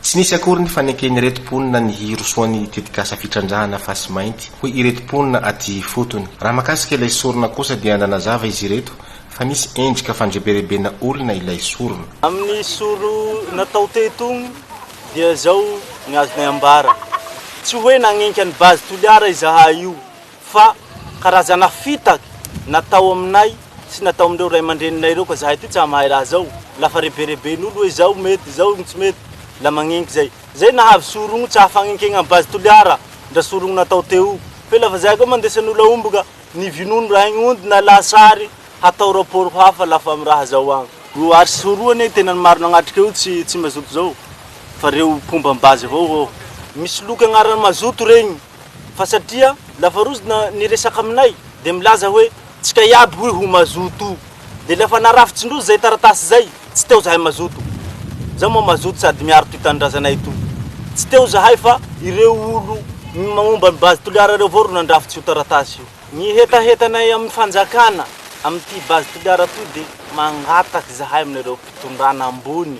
Tsy nisy akory ny faneken'ireto mponina ny hirosoan'ny tetikasa fitrandrahana fasy mainty, hoy ireto mponina aty ifotony. Raha mahakasika ilay sorona kosa dia nanazava izy ireto fa nisy endrika fandreberebena olona ilay sorona. Amin'ny sorona tao teto dia izao ny azonay ambara, tsy hoe nanenka an'i Base Toliara izahay io, Fa karazana fitaka natao aminay sy natao amin'ireo ray aman-dreninay ireo ka zahay aty tsa mahay raha zao, la fa rebereben'olo oe zao mety zao no tsy mety, la magnenky zay. Zay nahavy sorogno tsa fagnenkegna am base Toliara ndra sorogno natao teo. Fe la fa zahay koa mandesan'olo ahomboka ny vinono raha igny ondy na lahatsary hatao rapport ho hafa la fa am raha zao agn. O ary sy soroha anie tena ny maro nagnatrika io tsy tsy mazoto zao fa reo mpomba am base avao ô. Misy loka agnaran'ny mazoto regny. fa satria lafarozina ny resaka aminay dia milaza hoe tsika iaby hoy ho mazoto dia ilay efa narafitsin-droa izay taratasy izay tsy teo zahay mazoto za moa mazoto sady miaro ity tanindrazanay ito tsy teo zahay fa ireo olo momba ny base toliara ireo avao ro nandrafitsy io taratasy io ny hetahetanay amin'ny fanjakana amin'ity base toliara ity dia mangataka zahay aminareo mpitondrana ambony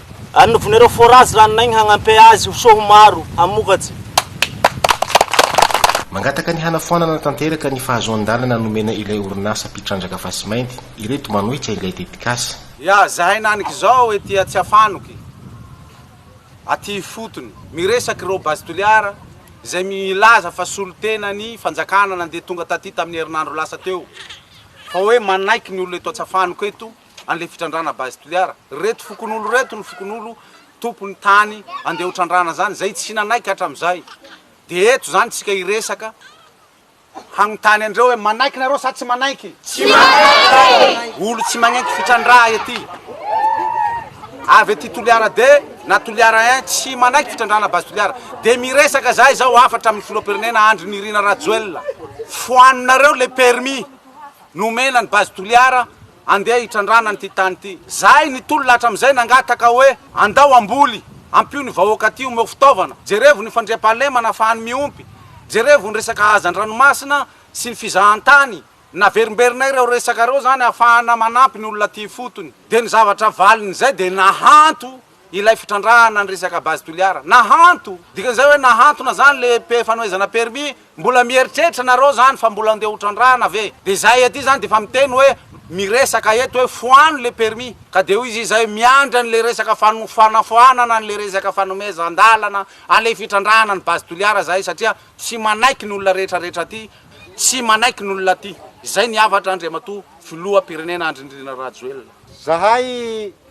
Arnovon'ireo forage ranon'aigny hagnampe azy ho soa ho maro hamokatsy. Mangataka ny hanafoanana tanteraka ny fahazoan-dalana nomena ilay orinasa mpitrandraka fasimainty ireto manohitra ilay tetikasa. Ya zahay nanik zao ety Atsiafanoky aty ifotony miresaky reo base toliara izay milaza fa solontena ny fanjakana nandeha tonga taty taminy herinandro lasa teo fa hoe manaiky ny olona eto Atsiafanoky eto anle fitrandrana base toliara reto fokonolo reto ny fokonolo tompony tany andeha ho trandrana zany zay tsy nanaiky hatramzay de eto zany tsika hiresaka hagnontany andreo hoe manaiky nareo sa tsy manaiky olo tsy magnaiky fitrandraha ety avy ety toliara de na toliara un tsy manaiky fitrandrana base toliara de miresaka zay zao afatra amin'ny filohampirenena andry nirina rajoel foaninareo le permis Nomena ny Base Toliara handeha hitrandrahana an'ity tany ity. Zahay nitolona hatramin'izay nangataka hoe andao hamboly, ampio ny vahoaka aty omeo fitaovana, jerevo ny fandriampahalemana afahany miompy, jerevo ny resaka hazan-dranomasina sy ny fizahan-tany. Naverimberinay ireo resaka ireo izany ahafahana manampy ny olona aty ifotony. Dia ny zavatra valin'izay dia nahanto Ilay fitrandrahana ny resaka base Toliara. Nahanto! Dikan'izay hoe nahantona zany le mpe fanohezana permis? Mbola mieritreritra nareo zany fa mbola ndeha ho trandrahana ve? De zahay aty zany de efa miteny hoe miresaka eto hoe foano le permis ka de hoy izy izay miandry an'le resaka fano fanafoanana an'le resaka fanomezan-dalana an'le fitrandrahana ny base Toliara zahay satria tsy manaiky ny olona rehetra rehetra aty, tsy manaiky ny olona aty. Izay ny hafatra Andriamatoa Filoham-pirenena Andry Nirina Rajoelina. Zahay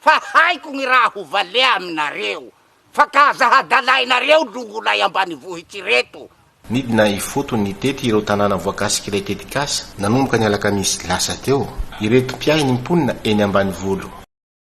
Fa haiko gny raha ho vale aminareo, fa ka aza hadalainareo longolay ambanivohitsy reto. Nidina ifotony tety ireo tanàna voakasik'ilay tetikasa nanomboka ny alakamisy lasa teo, ireto mpiahy ny mponina eny ambanivolo.